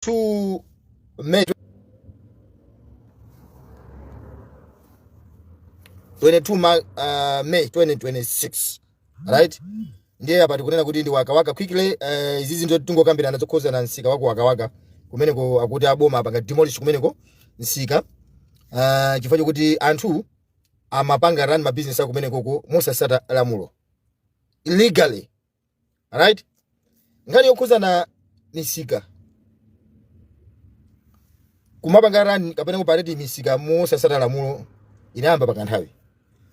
2 May 22 ma, uh, May 2026 right ndiye apa tikunena kuti ndi wakawaka quickly uh, izi zinthu tingokambirana zokhuzana msika wa ku wakawaka kumeneko akuti aboma apanga demolish kumeneko msika uh, chifukwa chokuti anthu amapanga run mabizinesi awo kumenekoko mosasata lamulo illegally right nkhani yokhuzana misika kumapanga run kapena kuopareta misika mosasata lamulo inayamba pakanthawi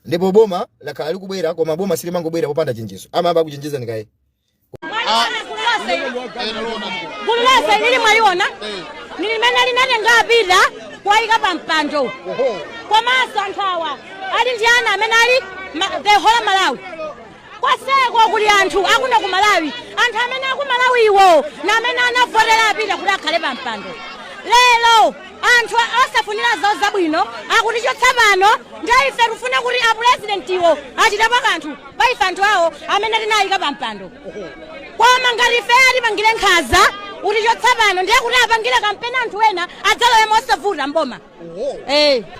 ndipo boma lakhala likubwera koma boma silimangobwera popanda chenjezo amayamba akuchenjezani kaye gululi lonseli mwaliona ndi limene linatenga a Peter kuwayika pa mpando komanso anthu awa ali ndi ana amene ali ma- the whole malawi Koseko kuli anthu akuno ku Malawi, anthu amene aku Malawiwo ndi amene anavotera a Peter kuti akhale pa mpando. Lero anthu osafunira zawo zabwino akutichotsa pano, ndiye ife tikufuna kuti apulezidentiwo achitepo kanthu pa ife anthu awo amene tinawayika pa mpando. Koma ngati ife atipangire nkhaza kutichotsa pano, ndiye kuti apangire kampeni anthu ena adzalowe mosavuta m'boma.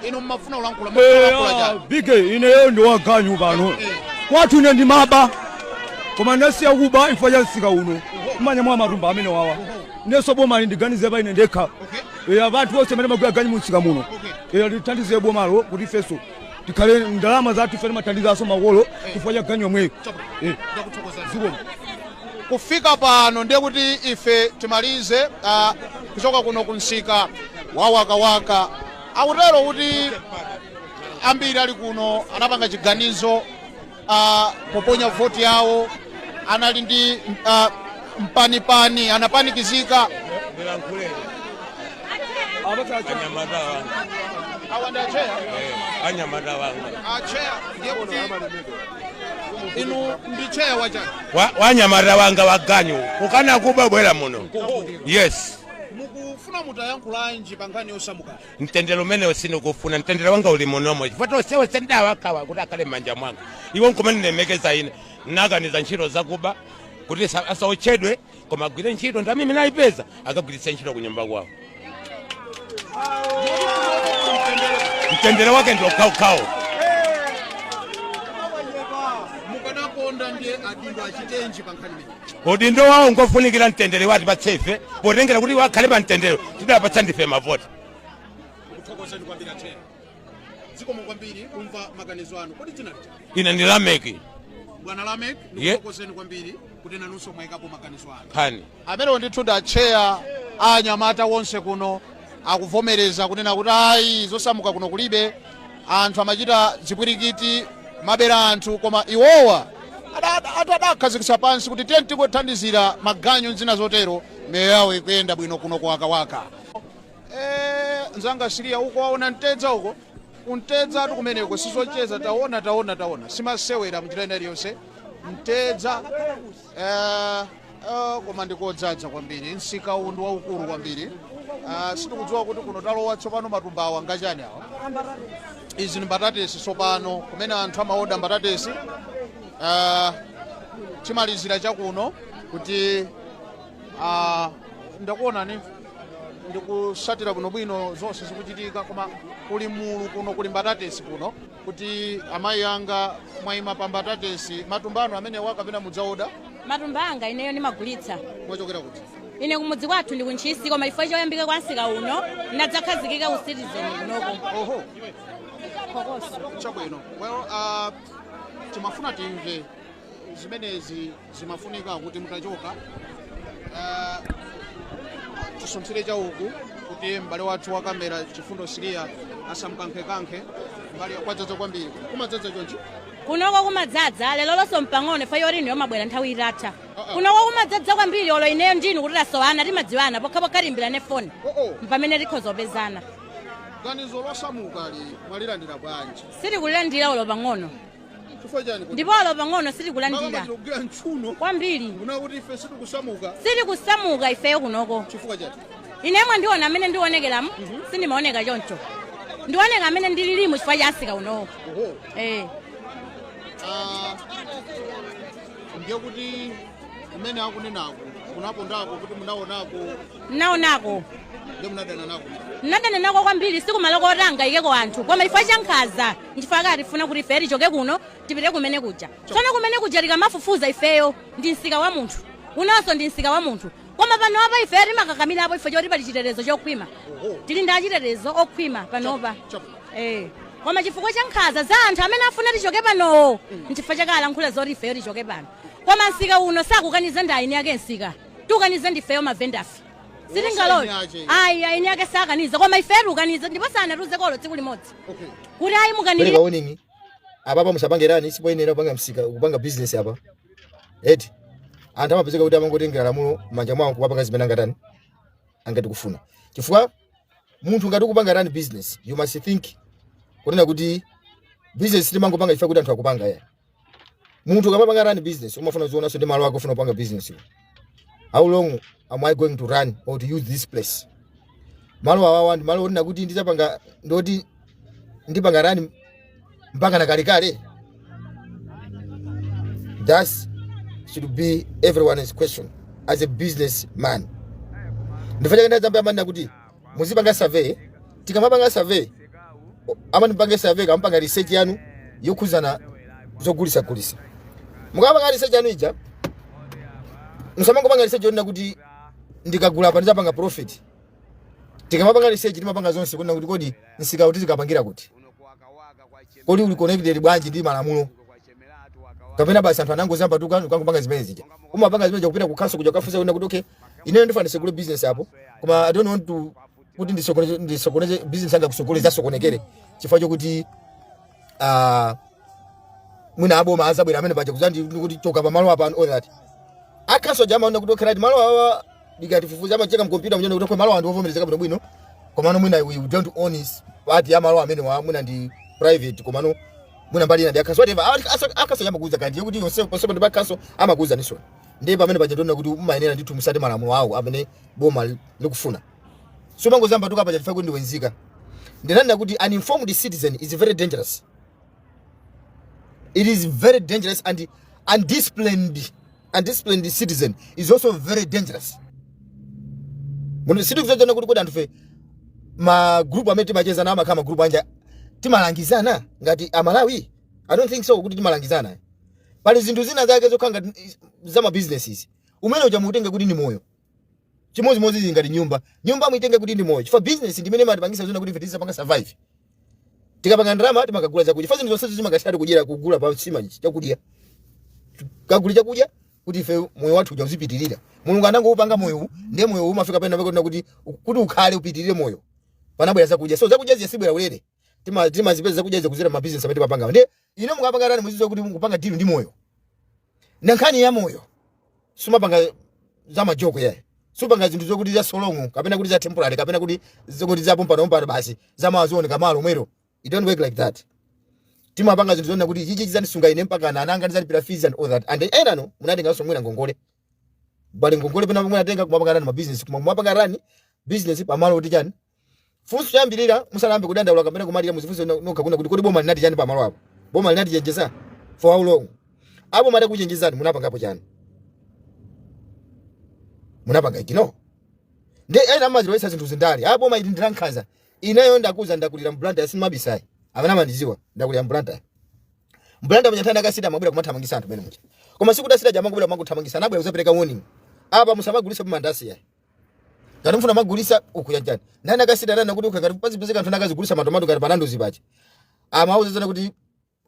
inu mmafuna kulankhula bige ineyo ndi waganyu pano kwathu ine ndimaba koma ndasiya kuba ifukwa cha msika uno mmanyamula matumba amene awawa ndiyeso boma lindiganize pa ine ndekha eya pa anthu onse amene timagwira ganyu mu msika muno eya lithandize bomalo kuti ifeso tikhale ndi ndalama zathu ife timathandizanso makolo chifukwa cha ganyu yomweyo Eh, zikomo kufika pano ndiye kuti ife timalize ah, kuchoka kuno ku msika wa wakawaka akutero kuti ambiri ali kuno anapanga chiganizo uh, poponya voti yawo anali ndi uh, mpanipani anapanikizika anyamata wanga awa ndi acheya eh, anyamata wanga acheya ndiye kuti inu ndi cheya wachani Wa- wa anyamata anga aganyu okana kuba bwera muno yes mukufuna mutayankhula chiyani pa nkhani yosamukayo Mtendere umenewo sindikufuna, mtendere wanga uli munomo, chifukwa onsewa onse ndawakhawa kuti akhale m'manja mwanga. Iwo nkumandilemekeza ine, nakaniza ntchito zakuba kuti sa- asaotchedwe, koma agwire ntchito ndalama imene ayipeza akagwiritse ntchito ku nyumba kwawo. Mtendere wake ndi okhaokhawo. mukadakonda ndiye adindo achitenji pa nkhani imeneyi udindo wawo ngofunikira mtendere watipatsa ife potengera kuti wakhale pa mtendere tidapatsa ndife mavoti ndikuthokozeni kwambiri athe zikomo kwambiri kumva maganizo anu kodi dzina lija ine ndi lameki bwana lamek ndikuthokozeni kwambiri kuti nanunso mwayikapo maganizo anu nkhani amenewo ndithu ndi atcheya a anyamata wonse kuno akuvomereza kunena kuti ayi zosamuka kuno kulibe anthu amachita zipwirikiti kubera anthu koma iwowa ada- ada- ati adakhazikitsa pansi kuti tiye tikuthandizira maganyu ndi zina zotero miyoyo yawo ikuyenda bwino kuno kuwakawaka Eh, nzanga siliya uko waona mtedza uko kumtedzatu kumeneko sizocheza taona taona taona simasewera mnjira ina iliyonse mtedza Eh, eh, koma ndikodzadza kwambiri msika uwu ndi waukulu kwambiri Ah, sitikudziwa kuti kuno talowa tsopano matumbawa ngachani awa izi ndi mbatatesi tsopano kumene anthu amaoda mbatatesi Ah, timalizire chakuno kuti ah, ndakuonani ndikutsatira bwinobwino zonse zikuchitika koma kuli mulu kuno kuli mbatatesi kuno kuti amayi anga mwayima pa mbatatesi matumba anu amenewa, kapena mudzaoda matumba anga ineyo ndimagulitsa mwachokera kuti ine kumudzi kwathu ndi kuntchisi koma chifukwa choyambika kwa msika uno ndadzakhazikika, ku citizen kunoko oho phokoso chabwino well uh, timafuna timve zimenezi zimafunika kuti mutachoka eh, tisunthire chauku kuti m'bale wathu wa kamera chifundo siriya asamkankhekankhe mbali kwadzadza kwambiri kumadzadza chonchi kunoko kumadzadza lero lonso mpang'ono ifeyo inuyo mwabwera nthawi itatha kunoko kumadzadza kwambiri olo ineyo ndinu kuti tasowana timadziwana pokhapokha tiimbirane foni mpamene tikhoza kupezana ganizo losamukali mwalilandira bwanji sitikulilandira olo pang'ono chifukwa chani kodi? ndipo olo pang'ono Makamaka sitikulandira tikugwira mchuno kwambiri kunena kuti ife sitikusamuka sitikusamuka ifeyo kunoko chifukwa chani ine mwandiona amene ndionekeramu sindimaoneka choncho ndioneka amene ndililimu chifukwa cha msika unowo oho eh. Ah, ndiye kuti kumene akunenako kunapondako kuti munaonako ndinaonako ndiye munadana nako ndinadana nako kwambiri si kumalo koti angaikeko anthu koma chifukwa cha nkhaza nchifukwa chake akutifuna kuti ife tichoke kuno tipite kumene kuja tsono kumene kuja tikamafufuza ifeyo ndi msika wa munthu unonso ndi msika wa munthu koma panopa ifeyo timakakamirapo chifukwa choti pali chitetezo chokhwima tili ndi achitetezo okhwima panopa Eh. koma chifukwa cha nkhaza za anthu amene afuna tichoke panowo nchifukwa chake alankhula zoti ifeyo tichoke pano koma msika uno sakukaniza ndi eni ake msika tikukaniza ndifeyo mavenda ife sitingalole ayi ayini yake sakaniza koma ifetu ukaniza ndipo sanatiuzeko olo tsiku limodzi kuti ayi mukanire pereka warning apapa musapangirenso sipoyenera kupanga msika kupanga business apa eti anthu amapezeka kuti amangotengera lamulo manja mwawo kuwapanga zimene angatani angati kufuna chifukwa munthu ngati ukupanga tani business you must think kunena kuti business timangopanga ife kuti anthu akupanga ya munthu ukamapanga run business umafuna uzionaso ndi malo ako ukufuna kupanga business how long am i going to run or to use this place malo awawa ndi malo onena kuti ndizapanga zoti ndipanga run mpaka na kalekale that should be everyone's question as a business man ndiyenera ndimayamba kumanena kuti muzipanga survey tikamapanga survey o- amati mpange survey mukapanga research yanu yokhuzana zogulisa gulisa mukapanga research yanu ija musamangopanga research yonena kuti ndikagula apa ndizapanga profit tikamapanga research timapanga zonse kunena kuti kodi msika uti tikapangira kuti kodi uli connected bwanji ndi malamulo kapena basi anthu anangozambatuka kungopanga zimene zija umapanga zimene kupita kukhonsolo kuja kukafunsa kunena kuti okay ineyo ndifuna ndisegule business apo koma i don't want to kuti ndisokoneze ndisokoneze business yanga kutsogolo izasokonekere chifukwa chokuti ah mwina aboma azabwera pamene paja kuzandiuza kuti choka pa malo apa and all that akhonsolo aja amanena kuti okay malo awa ndikafufuza amacheka mkompyuta nkunena kuti okay malo awa ndiwovomerezeka bwino bwino komano mwina we don't own this part ya malo amenewa mwina ndi private komano mwina mbali ina ndi akhonsolo whatever Aka- asa- akhonsolo aja amakuuza kandiye kuti yonse possible ndi akhonsolo amakuuza nisoni ndiye pamene paja tiona kuti umayenera ndithu kutsata malamulo awo amene boma li- likufuna osamangozambatuka paja chifukwa ndiwe nzika ndinanena kuti an informed citizen is very dangerous it is very dangerous and undisciplined undisciplined citizen is also very dangerous munthu sitikuuzana kuti kodi anthufe magrupu amene timacheza nawo amakhala magrupu anji timalangizana ngati amalawi i don't think so kuti timalangizana pali zinthu zina zake zokhala ngati is- za ma businesses business ija muutenge kuti ndi moyo chimodzimodzi zili ngati nyumba nyumba muitenge kuti ndi moyo chifukwa business ndi imene imatipangisa zona kuti ife tizapanga survive tikapanga ndalama timakagula chakudya chifukwa zinthu zonsezo zimakathera kudyera kugula pa nsima ichi chakudya tikagula chakudya kuti ife moyo wathu uja uzipitirira mulungu anangoupanga moyo uwu ndiye moyo uwu umafika pena pakuti kuti kuti ukhale upitirire moyo panabwera zakudya so zakudya zija sizibwera ulere Tima- timazipeza zakudya izi kudzera mabizinesi amene timapangawa ndiye inu mukapanga run muzidziwa kuti mukupanga deal ndi moyo na nkhani ya moyo sumapanga za majoke yayi supanga zinthu zokuti za so long kapena kuti za temporary kapena kuti zokuti za pompano pompano basi za mawa zioneka mawa lomwero it don't work like that timapanga zinthu zonena kuti chichi chizandisunga ine mpaka ana ana anga ndizalipira fees and all that and enanu munatenganso mwina ngongole pali ngongole pena pomwe atenga kumapanga run mabusiness koma kumapanga run business pamalo okuti chani Funso choyambirira musanayambe kudandaula kapena kumalira muzifunse no- nokha kunena kuti kodi boma linati chani pamalo apo? Boma linatichenjeza for how long? Aboma atakuchenjezani munapangapo chani? Munapanga ignore? Nde ena amazilowesa zinthu zandale. Apo boma ili ndi lankhanza. Ineyo ndakuuza ndakulira m'Blantyre sindimabisa ayi. Amene amandiziwa ndakulira m'Blantyre. M'Blantyre mwenye tanda a city amabwera kumathamangisa anthu mmene muja. Koma sikuti a city ja amangobwera kumangothamangisa anabwera kuzapereka warning. Apa musamagulisepo mandasi yayi. Ngati mufuna kumagulisa uku yanjani. Nani a city ananena kuti ukakati pazi pezeka anthu nakazigulisa matomato ngati pa Nandos paja. Amauzana kuti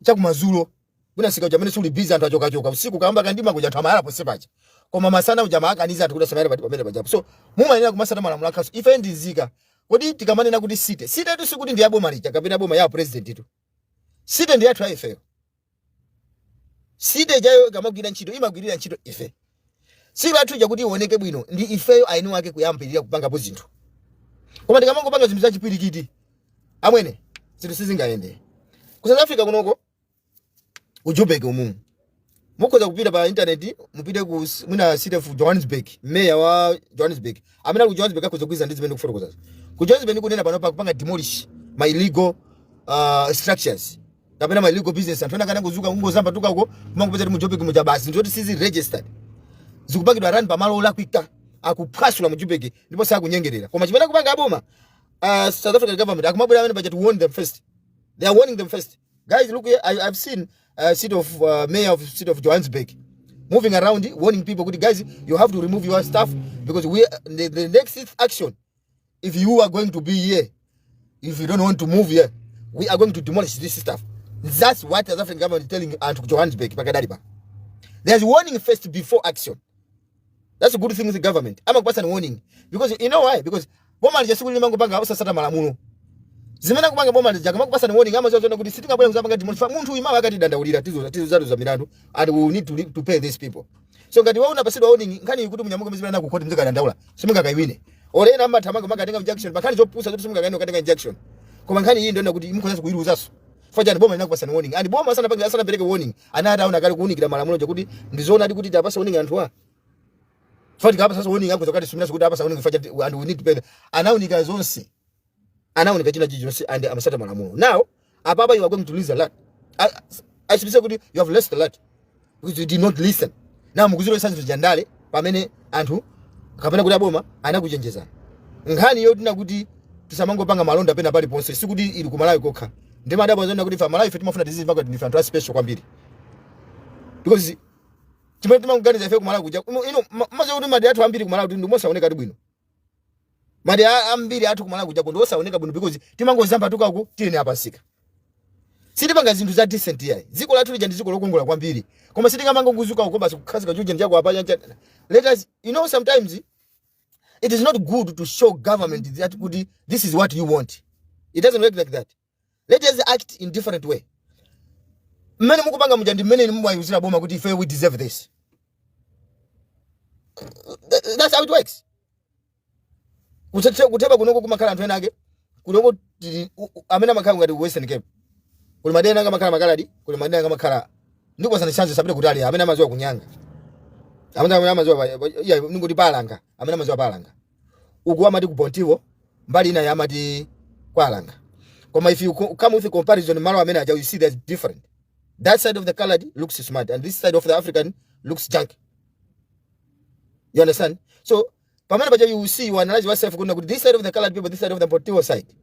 chakumazulo mwina msika uja mene suli busy anthu achoka choka usiku kayamba kamdima kuja anthu amayala ponse paja. Koma masana uja amawakaniza anthu kuti asamayala pati pamene paja. So mumayenera kumasata malamulo a council. Ife ndi nzika. Kodi tikamanena kuti city. City tu sikuti ndi yaboma lija kapena yaboma ya president tu. City ndi yathu ya ifeyo. city ijayo ikamagwira ntchito imagwirira ntchito ife city yathu ija kuti ioneke bwino ndi ifeyo eni ake kuyambirira kupangapo zinthu koma tikamangopanga zinthu zachipwirikiti amwene zinthu sizingayende ku south africa kunoko ku joburg umumu mukhoza kupita pa intaneti mupite ku s- mwina city of johannesburg meya wa johannesburg amene ali ku johannesburg akhoza kugwirizana ndi zimene ndikufotokozazo ku johannesburg kunena pano akupanga demolish ma illegal uh, structures kapena ma illegal business anthu ena kana kuzuka kungozayamba tukako kumangopeza kuti mu Joburg muja basi ndi zoti sizili registered zikupangidwa run pa malo olakwika akuphwasula mu Joburg ndipo sakunyengerera koma chimene akupanga aboma uh, South African government akumabwera pamene paja to warn them first they are warning them first guys look here I, I've seen uh, city of uh, mayor of city of Johannesburg moving around warning people kuti guys you have to remove your stuff because we the, the next action if you are going to be here if you don't want to move here we are going to demolish this stuff that's what the african government is telling anthu ku johannesburg pakadali pa there's warning first before action that's a good thing with the government amakupasani warning because you know why because boma lija siku limangopanga usasata malamulo zimene akupanga boma lija kamakupasani warning amaziwa zona kuti sitingabwere kuzapanga demolish munthu uyu mawa akatidandaulira tizo tizo zatu za milandu and we need to, to pay these people so ngati iwe unapasidwa warning nkhani ikuti munyamuka muzipita nayo ku khoti muzikadandaula simungakaiwine olo ena amathamanga kumakatenga injunction pankhani zopusa zoti simungakawine ukatenga injunction koma nkhani iyi ndi yonena kuti mukhoza kuyiluzaso chifukwa chani boma inakupasani warning and boma asanapange asanapereke warning anati aona kale kuunikira malamulo aja kuti ndizoona ati kuti tawapasa warning anthu awa chifukwa tika apa sasa warning akhoza kukatisumira kuti apasa warning chifukwa chani and we need to pay the- anaunika zonse anaunika china chilichonse and amasata malamulo now apapa you are going to lose a lot I, I should say kuti you have lost a lot because you did not listen now mukuzilowesa zinthu zandale pamene anthu kapena kuti aboma anakuchenjezani nkhani yonena kuti tisamangopanga malonda pena paliponse sikuti ili ku malawi kokha ndimadabwa zonena kuti ife amalawi ife timafuna tizimva kuti ndife anthu a special kwambiri because chimene tikuganiza ife ku malawi kuja inu mumaziwa kuti madera athu ambiri ku malawi ndi mosaonekatu bwino madera ambiri athu kumalawi kujako ndi osaoneka bwino because timangodzambatuka uku tiyeni apasika sitipanga zinthu za decent yayi dziko lathu lija ndi dziko lokongola kwambiri koma sitingamangodzuka uko basi kukhazika chujeni chako apa chancha let us you know sometimes it is not good to show government that kuti this is what you want it doesn't work like that Let us act in different way. Mmene mukupanga muja ndi mmene inu mumayiuzira boma kuti ife we deserve this. Th- That's how it works. Kuthethe- Kutheba kunoko kumakhala anthu ena ake. Kunoko tili- u- u- amene amakhala ngati ku Western Cape. Kuli madera ena amakhala makaladi, kuli madera ena amakhala ndipo sana chanzo sapita kutali amene amaziwa ku Nyanga. Amene amene amaziwa pa- pa- iya ndingoti pa Langa, amene amaziwa pa Langa. uku amati ku Bontiwo mbali ina yamati kwa Alanga koma if you come with comparison malo amene aja you see there's different that side of the colored looks smart and this side of the African looks junk you understand so pamene paja you see you analyze yourself kuna kuti this side of the colored people this side of the Bontiwo side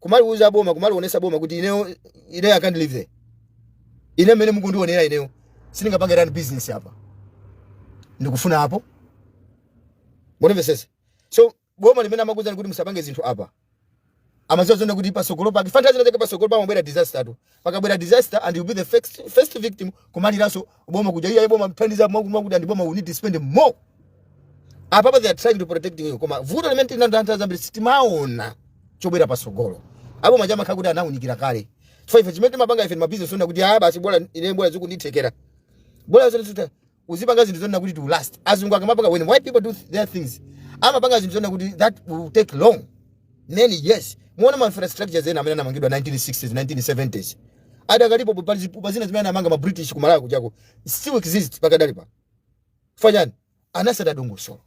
kumaliuza boma kumalionesa boma kuti ineyo ineyo I can't live there ine mmene mukundionera ineyo sindingapange run business apa ndikufuna apo mundimvetsetse so boma limene amakuuzani kuti musapange zinthu apa amaziwa zonena kuti pasogolo pake pa ntchazinachake pasogolo pamabwera disaster tu pakabwera disaster and you'll be the first, first victim kumaliranso boma kuti iya boma thandiza mwakuti boma we need to spend more apapa they are trying to protect you koma vuto limene tili nalo anthu zambiri sitimaona chobwera pasogolo abomajama amakha kuti anaunikira kale so ife chimene timapanga ife ndi mabizinesi onena kuti aya basi bora ine bora zikunditheka bora zikuti uzipanga zinthu zonena kuti it will last azungu akamapanga when white people do th- their things amapanga zinthu zonena kuti that will take long many years muwona ma infrastructures ena amene anamangidwa 1960s 1970s adakalipo pa zipupa zina zimene anamanga ma british ku malawi kujako still exist pakadali pa fanyani anasada dongosolo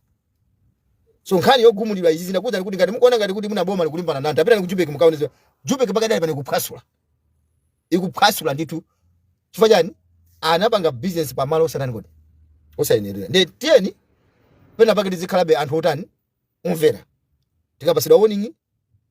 so nkhani yogumuliridwa izi zinakuza kuti ngati mukuona ngati kuti mwina boma likulimbana ndi anthu pitani ku Joburg mukaonenso Joburg pakadali pano ikuphwasula ikuphwasula ndithu chifukwa chani anapanga business pa malo osatani kodi osayenerera nde tiyeni pena pake tizikhalabe anthu otani omvera tikapatsidwa warning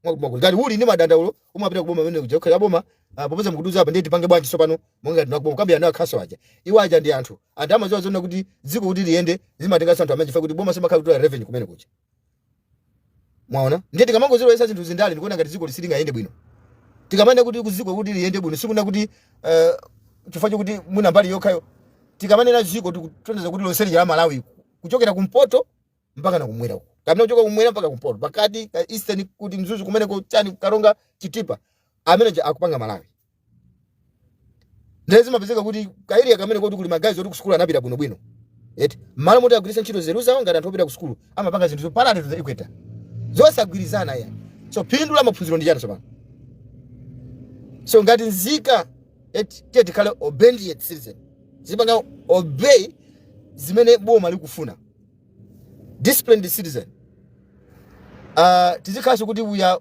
mwakumakulu ngati uli ndi madandaulo umapita kuboma kumene kuja kukhala boma ah, popeza mukutiuza apa ndiye tipange bwanji tsopano monga tinakubomako kukambirana nawo kaso aja iwo aja ndi anthu anthu amaziwa zonena kuti dziko kuti liyende zimatenganso anthu amene chifukwa kuti boma zimakhala kutolera revenue kumene kuja mwaona ndiye tikamangozilowesa zinthu zindale ndikuona ngati dziko silingayende bwino tikamanena kuti dziko kuti liyende bwino sikunena kuti uh, chifukwa chokuti mwina mbali yokhayo tikamanena dziko tikutanthauza kuti lonse lija la malawi kuchokera kumpoto mpaka na kumwera uko kapena kuchoka kumwera mpaka kumpoto pakati ka eastern kuti mzuzu kumeneko chani karonga chitipa amene akupanga malawi ndiye zimapezeka kuti ka area kamene koti kuli magayizi oti kusukulu anapita bwinobwino eti mmalo moti agwiritse ntchito nzeru zawo ngati anthu opita kusukulu amapanga zinthu zo parallel to the equator zosagwirizana ya so phindu la maphunziro ndi chani tsopano so ngati nzika eti tiye tikhale obedient citizen tizipanga obey zimene boma likufuna disciplined citizen uh, tizikhalanso kuti we are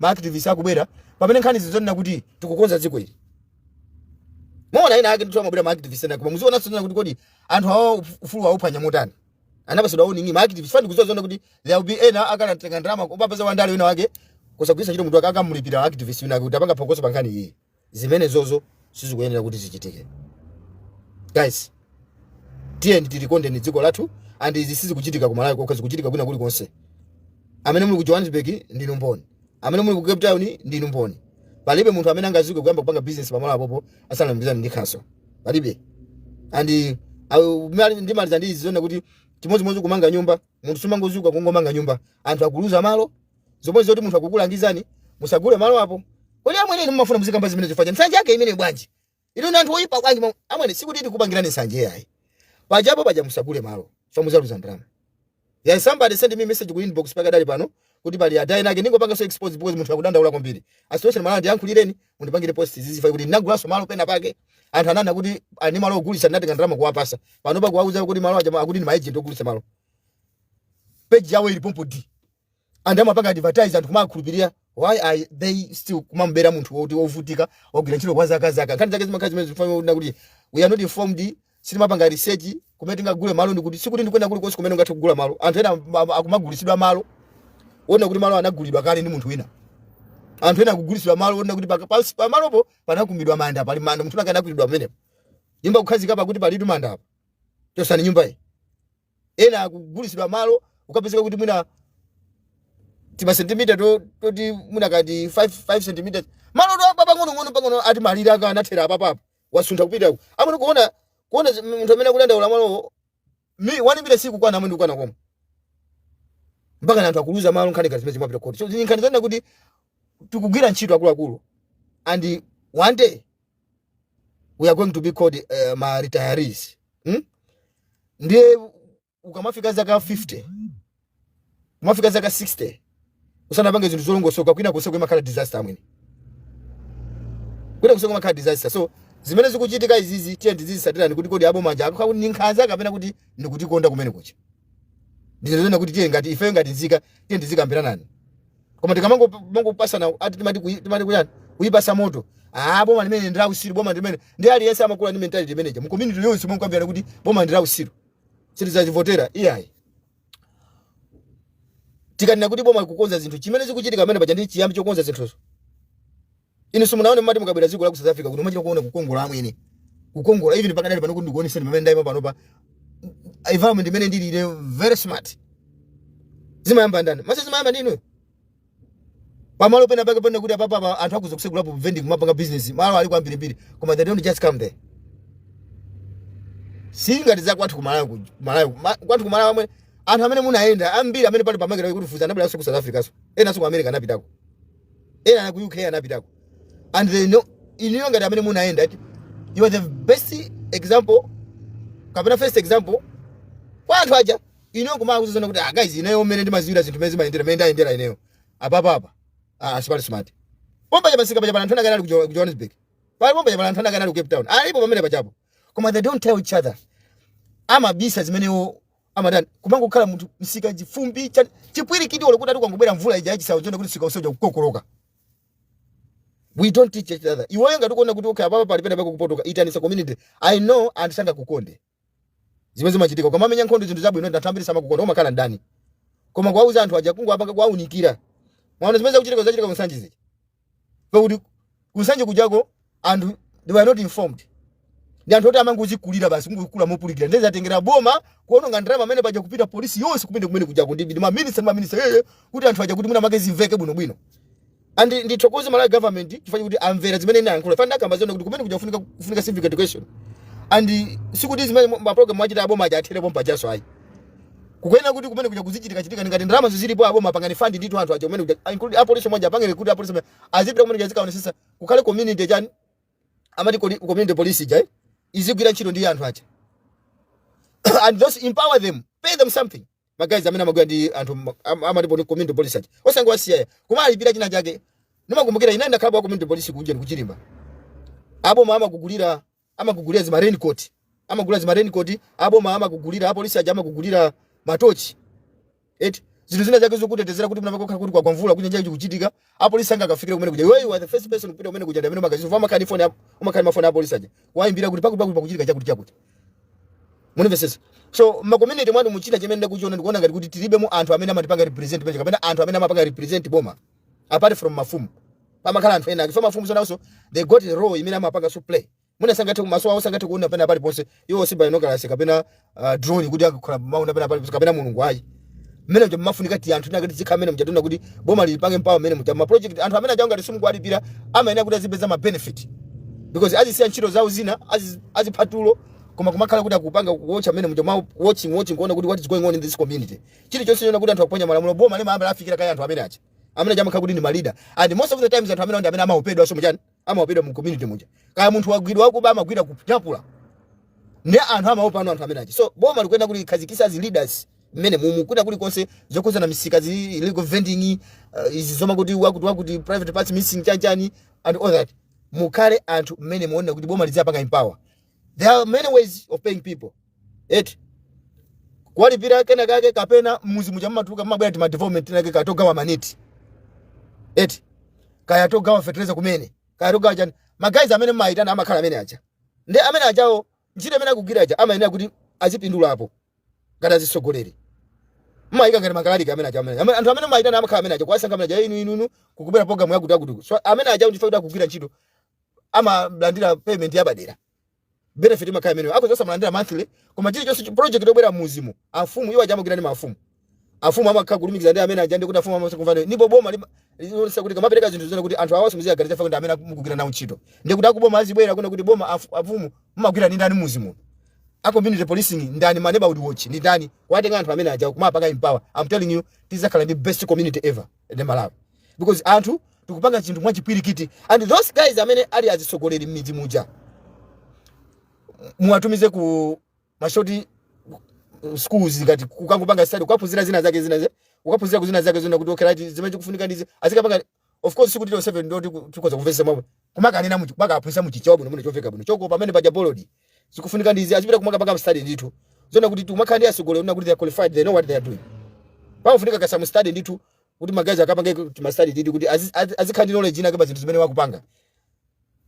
ma activist akubwera pamene nkhani ili yonena kuti tikukonza dziko ili muona ena ake ndithu amabwera ma activist ena koma muziona sonena kuti kodi anthu awa uf- ufulu wauphwanya motani anapatsidwa warning ma activist afunika kudziwa zonena kuti there will be ena akanatenga ndalama kukapeza wandale wina wake kusagwiritsa ntchito mutu wake akamulipira activist wina kuti apange phokoso pa nkhani iyi zimenezozo sizikuyenera kuti zichitike guys tiyeni tilikondeni dziko lathu and izi sizikuchitika ku malawi kokha zikuchitika kwina kulikonse amene muli ku johannesburg ndinu mboni amene muli ku cape town ndinu mboni palibe munthu amene angadzuke kuyamba kupanga business pamalo apopo asanalumikizane ndi khansolo palibe and uh, mali- ndimaliza ndi izi zonena kuti chimodzimodzi kumanga nyumba munthu sumangodzuka kungomanga nyumba anthu akuluza malo zomwe zoti munthu akukulangizani musagule malo apo kodi amwene inu mumafuna muzikamba zimenezi chifukwa cha nsanje yake imeneyi bwanji inu ndi anthu oyipa bwanji mwa- amwene sikuti tikupangirani nsanje yayi pajapo paja musagule malo chifukwa mudzaluza ndalama yeah somebody send me message ku inbox pakadali pano kuti pali adai nake ndingowapanga expose because munthu akudandaula kwambiri a Sitoshe Malandi ndiyankhulireni mundipangire post chifukwa choti ndinagulanso malo pena pake anthu ananena kuti ali ndi malo ogulitsa ndinatenga ndalama kuwapatsa pano pakuwauza kuti malo aja akuti ndi maejenti ogulitsa malo page yawo ili pompo ndi anthu amapanga advertise anthu kumakhulupirira why are they still kumamubera munthu woti wovutika wagwira ntchito kwa zaka zaka nkhani zake zimakhala zimenezi zonena kuti we are not informed sitimapanga research kumene tingagule malo ndikuti sikuti ndikwenda kuli konse kumene ungathe kugula malo anthu ena am- am- akumagulitsidwa malo onena kuti malo anagulidwa kale ndi munthu wina anthu ena akugulitsidwa malo onena kuti paka- pansi pa malopo panakumbidwa manda pali manda munthu anakwiriridwa pamenepo nyumba kukhazikapo akuti palitu manda apa chotsani nyumba iyi ena akugulitsidwa malo ukapezeka kuti mwina timasentimita to- toti mwina kati 5 cm malo to apa pang'onong'ono pang'ono ati malire ake anathera apapapo wasuntha kupita uku amwene kuona kuona zi- munthu amene akudandaula malowo wandibera sikukwana amwene kukwana koma mpaka na anthu akuluza malo nkhani ngati zimenezi zimapita ku khoti so izi ndi nkhani zonena kuti tikugwira ntchito akuluakulu and one day we are going to be called uh, ma retirees hmm? ndiye ukamafika zaka 50 kumafika zaka 60 usanapange zinthu zolongosoka kwinako zimakhala disaster amwene kwinako zimakhala disaster so zimene zikuchitika izizi tiyeni tizizitsatirani kuti kodi aboma aja akukhala ngati ndi nkhanza kapena kuti ndikutikonda kumene kucha ndi zonena kuti tiye ngati ifeyo ngati nzika tiye tizikambiranani koma tikamangopatsana ati timati kuyi- timati kuyani kuyipatsa moto ah boma limeneli ndi lautsiru boma limeneli ndi aliyense amakula ndi mentality imeneja mu community yonse mukambirana kuti boma ndi lautsiru sitidzalivotera iyayi tikanena kuti boma likukonza zinthu chimene zikuchitika pamene paja ndi chiyambi chokonza zinthuzo inu simunaone mmati mukabwera dziko la ku south africa kuno mumachita kuona kukongola amwene kukongola even pakadali pano kuti ndikuoneseni pamene ndayima panopa environment imene ndili ine very smart zimayamba ndani amwene zimayamba ndinu pamalo pena pake pena kuti apapa apa anthu akhoza kusegulapo vending kumapanga business malo aliko ambirimbiri koma they don't just come there si ngati za kwathu kumalawi ku- malawi ma- kwathu kumalawi amwe anthu amene munayenda ambiri amene pali pamalo kuti ife tinabweranso ku south africa so enanso ku america anapitako ena enanso ku uk anapitako and they know inuyo ngati amene munayenda ati you are the best example kapena first example kwa anthu aja ineyo kumauzana kuti ah guys ineyo mmene ndimaziwira zinthu mmene zimayendera mmene ndayendera ineyo apapa apa ah smart smart pompaja pamsika paja pana anthu anakana ali ku Jo- ku Johannesburg pali pompaja pana anthu anakana ali ku Cape Town alipo pamene pajapo koma they don't tell each other amabisa zimenewo amadana kumangokhala munthu msika chifumbi cha chipwirikiti olo kuti ati kwangobwera mvula ija yachisawo choona kuti msika uzachita kukokoloka we don't teach each other iweyo ngati ukuona kuti okay apapa pali pena pakupotoka itanisa community i know anthu sangakukonde zimene zimachitika ukamamenya nkhondo zinthu zabwino anthu ambiri samakukonda umakhala mdani koma kuwauza anthu aja kungowapanga kuwaunikira mwaona zimene zikuchitika zachitika kunsanje zija pakuti kunsanje kujako anthu they were not informed ndi anthu oti amangozikulira basi kungokula mopulikira ndiye zatengera boma kuononga ndalama pamene paja kupita polisi yonse kupita kumene kujako ndi ndi maminista ndi maminista aja kuti anthu aja kuti mwina make zimveke bwinobwino and ndithokoze malawi government chifukwa choti amvera zimene ine ayankhula chifukwa ndakamba zonse kuti kumene kuja kufunika kufunika civic education and sikuti zimene mu- ma program achita aboma aja athere pompajaso ayi kuyenera kuti kumene kuja kuzichitika chitika ngati ndalama zilipo aboma apangani fund ndithu anthu aja kumene kuja include apolisi omwe aja apangire kuti apolisi omwe aja azipita kumene kuja azikaonesesa kukhale community chani amati kodi- community police ija eh, izigwira ntchito ndi anthu aja and also empower them pay them something ma guys amene amagwira ndi anthu ma- am- amati poli- community police aja osangowasiya koma kuwalipira china chake ndimakumbukira ine ndakhalapo wa community police kunja ndikuchilimba aboma amakugulira amakugulira zima raincoat amagula zima raincoat aboma amakugulira apolisi aja amakugulira matochi eti zinthu zina zake zokutetezera kuti mwina pakakhala kuti kwagwa mvula kunja kukuchitika apolisi asanakafikire kumene kuja you are the first person kupita kumene kuja ndamene ma guys amakhala ndi phone umakhala ndi mafoni apolisi aja kuwaimbira kuti pakuti pakuti pakuchitika chakuti chakuti mundimvesese so ma community mwathu muja chimene ndakuchiona ndikuona ngati kuti tilibe mu anthu amene amatipanga represent page kapena anthu amene amapanga represent boma apart from mafumu pamakhala anthu ena chifukwa mafumu nawonso they got a role imene amapanga so play mwina sangathe kumaso awo sangathe kuona pena paliponse iwo si binoculars kapena uh, drone kuti azikhala akuona pena paliponse kapena mulungu ayi mmene muja mumafunika kuti anthu tinakati tikukhala mmene muja tiona kuti boma lipange empower mmene muja ma project anthu amene aja ngati simukuwalipira amayenera kuti azipeza ma benefit because azisiya ntchito zawo zina azi- azipha tulo koma kumakhala kuti akupanga ku watcha mmene muja ma watching watching kuona kuti what is going on in this community chilichonse choona kuti anthu akuphwanya malamulo boma limayamba lafikira kaye anthu amene aja amene aja amakhala kuti ndi ma leader and most of the times anthu amene ndi amene amaopedwa so mchani amaopedwa mu community muja kaya munthu wagwidwa wakuba amagwidwa kutapula ndiye anthu amaopa anu anthu amene aja so boma likuyenera kutikhazikisa as leaders mmene muno kwina kulikonse zokhuzana ndi misika zi illegal vending uh, izi zomakuti wakuti wakuti private parts missing chanchani and all that mukhale anthu mmene muona kuti boma lizipanga empower there are many ways of paying people eti kuwalipira kena kake kapena mmuzi muja mumatuluka mumabwera tima development tinake kaya togawa maneti eti kaya togawa fertilizer kumene kaya togawa chani magayizi amene mumayitana amakhala amene aja ndiye amene ajawo ntchito imene akugwira aja amayenera kuti azipindulapo ngati azitsogoleri mumayika ngati makhala ali amene aja amene amene- anthu amene mumayitana amakhala amene aja kuwasankha amene aja inu inu inu kukubwera programu yakutiyakuti so amene ajawo ndiye kuti akugwira ntchito amalandira payment yapadera benefit imakhala imeneyo akhoza osamalandira monthly koma chilichonse chi- project yobwera mmuzimu afumu iwo aja amagwira ndi mafumu afumu amakhala kulumikiza ndi amene aja ndiye kuti afumu amatha kumvana ndipo boma lima- lilonse likamapereka zinthu zoona kuti anthu awanso muziwaganizira chifukwa ndi amene mukugwira nawo ntchito ndiye kuti akuboma azibwera kuona kuti boma afu- afumu mumagwira ndi ndani mmuzimu a community policing ndani ma neighborhood watch ndi ndani kuwatenga anthu amene aja kuwapanga empower i'm telling you tizakhala ndi best community ever in Malawi because anthu tikupanga chinthu mwachipwirikiti and those guys amene ali azitsogoleri m'midzi muja muwatumize ku ma short uh, schools ngati kukangopanga study kukaphunzira zina zake zina ze- kukaphunzira kuzina zake zoona kuti okay right zimene chikufunika ndi izi azikapanga of course sikuti onse ndi oti tiku- tikhoza kumvesa mwa kumakanena muchi kumakaphunzitsa muchichewa bwino bwino chomveka bwino chochokera pamene paja boldly zikufunika ndi izi azipita kumakapanga study ndithu zoona kuti tumakhala ndi atsogoleri oona kuti they are qualified they know what they are doing pakufunika kaye ma study ndithu kuti magayizi akapange kuti ma study ndithu kuti azi- azi- azikhala ndi knowledge inake pa zinthu zimene akupanga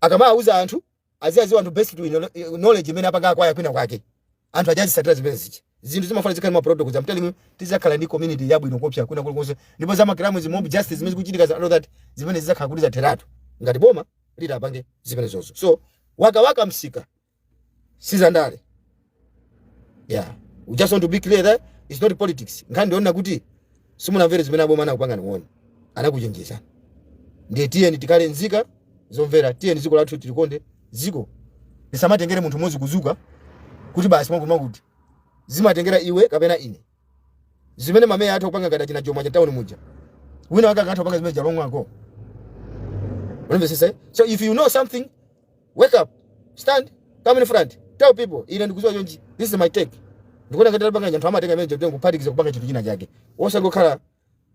akamawauza anthu aziwauza anthu based to knowledge imene apanga acquire kwina kwake anthu aja azitsatira zimene zija zinthu zimafuna zikhale ma protocols I'm telling you tizakhala ndi community yabwino koopsa kwina kulikonse ndipo za ma crime izi mob justice zimene zikuchitika and all that zimenezo zizakhala kuti zatheratu ngati boma litapanga zimenezozo so za kwakawaka msika sizandale yeah we just want to be clear that it's not politics nkhani ndi yoona kuti simunamvere zimene aboma anakupangani warn anakuchenjezani ndiye tiyeni tikhale nzika zomvera tiyeni dziko lathu tilikonde dziko silimatengera munthu mmodzi kuzuka kuti basi wakutiwakuti zimatengera iwe kapena ine zimene mameya atha kupanga ngati achina Jomo achita town muja wina wake akhoza kupanga zimene zija longa ukumvesesa so if you know something wake up stand come in front tell people ine ndikuziwa chonchi this is my take ndikuona ngati titapanga chonchi anthu amatenga zimenezo kutenga kuphatikiza kupanga chinthu china chake osangokhala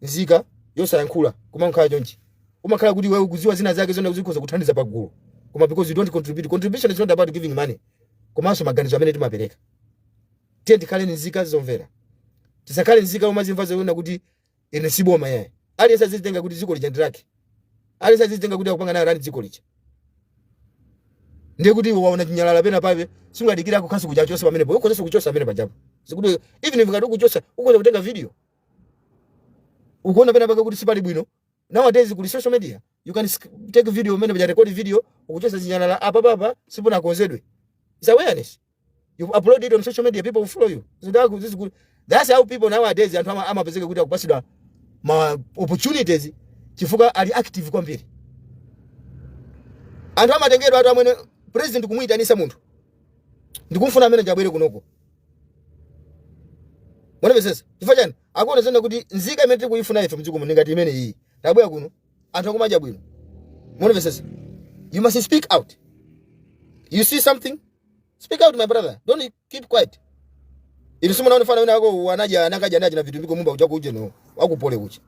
nzika yosayankhula kumangokhala chonchi umakhala kuti iweyo ukuziwa zina zake zoona kuti zikhoza kuthandiza pagulu koma because you don't contribute contribution is not about giving money komanso maganizo amene timapereka tiye tikhale nzika zomvera tisakhale nzika zomazimva zoona kuti Ine si boma yayi. Aliyense azizitenga kuti dziko lija ndi lake. Aliyense azizitenga kuti akupanga nayo run dziko lija. Ndiye kuti iwe waona chinyalala pena pabe sungadikire akukhansu kuti achose pamenepo. Ukhozanso kuchosa pamene pajapo. Sikuti even if ngati ukuchosa ukhoza kutenga video. Ukuona pena pake kuti sipali bwino. Nowadays kuli social media you can take video mmene paja record video ukuchotsa zinyalala apa papa sipunakonzedwe. It's awareness. You upload it on social media people will follow you. So this is good. That's how people nowadays anthu amapezeka kuti akupasidwa ma opportunities chifukwa ali active kwambiri. Anthu amatengedwa anthu amene president kumuitanisa munthu ndikumfuna ameneuja abwere kunoko munamvetsetsa chifukwa chani akuona zina kuti nzika imene tikuyifuna ife mdziko muno ngati imene iyi tabwera kuno anthu akumadya bwino munamvetsetsa you must speak out you see something speak out my brother don't keep quiet inu simunaone mfana wina wake unaja anakajya nachi na vitu mbiko mumba kuja kuje no wakupole kucha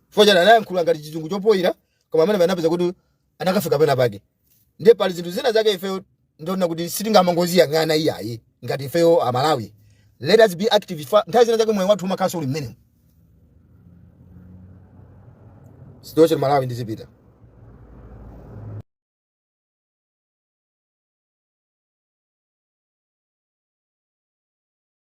chifukwa chani anayankhula ngati chizungu chopoyira koma amene anapeza kuti anakafika pena pake ndiye pali zinthu zina zake ifeyo ndimaona kuti sitingamangoziyang'ana iyayi ngati ifeyo amalawi let us be active Fa- nthawi zina zake moyo wathu umakhalanso uli mmenemo situation Malawi ndizipita